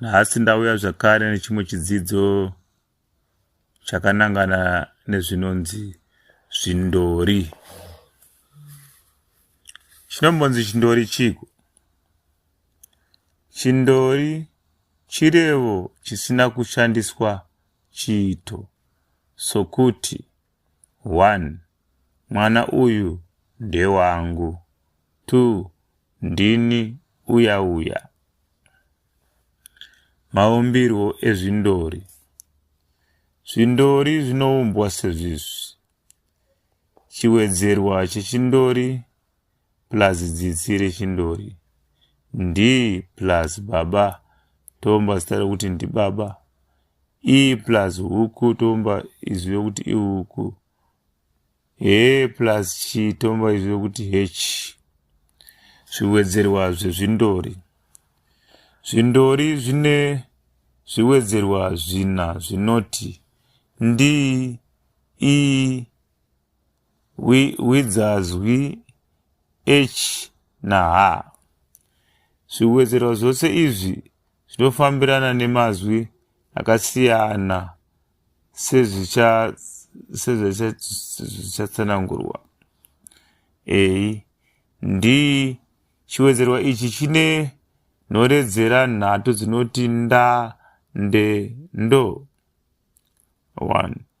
Nhasi ndauya zvakare nechimwe chidzidzo chakanangana nezvinonzi zvindori. Chinombonzi chindori chiko? Chindori chirevo chisina kushandiswa chiito sokuti. One, mwana uyu ndewangu. Two, ndini uya uya. Maumbirwo ezvindori. Zvindori zvinoumbwa sezvizvi. Chiwedzerwa chechindori plus dzitsi rechindori ndi plus baba tomba zita rekuti ndibaba e plus huku tomba izwi rekuti ihuku he plus chi tomba izwi rekuti hechi zviwedzerwa zvezvindori zvindori zvine zviwedzerwa zvina zvinoti ndi i Wi, widzazwi, ech naha. Zviwedzerwa zvose izvi zvinofambirana nemazwi akasiyana sezvichatsanangurwa. A. D. Chiwedzerwa ichi chine nhoredzera nhatu dzinoti nda, nde, ndo. 1.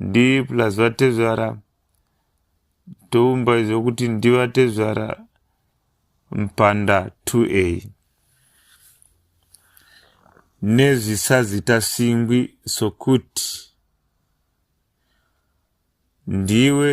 ndiri plus vatezvara toumba izvo kuti ndivatezvara mpanda 2a nezvisazita singwi sokuti ndiwe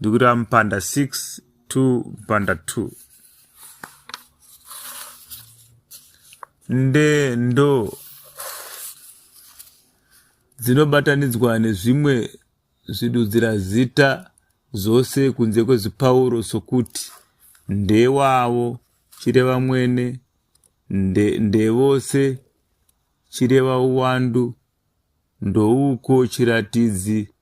ndikureva mupanda 6 to mupanda 2 nde ndo dzinobatanidzwa nezvimwe zvidudzira zita zvose kunze kwezipauro sokuti ndewavo chireva mwene nde, ndevose chireva uwandu ndouko chiratidzi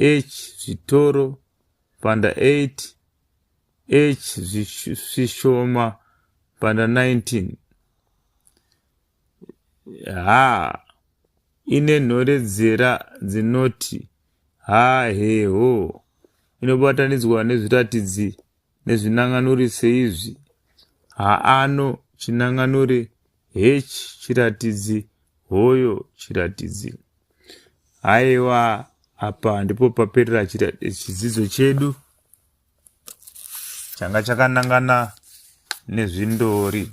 H zvitoro panda 8 H zvishoma panda 19 ha ine nhoredzera dzinoti ha heho inobatanidzwa nezviratidzi nezvinanganure seizvi, haano, chinanganure, hechi, chiratidzi, hoyo, chiratidzi. Haiwa, apa ndipo paperera chidzidzo chedu changa chakanangana nezvindori.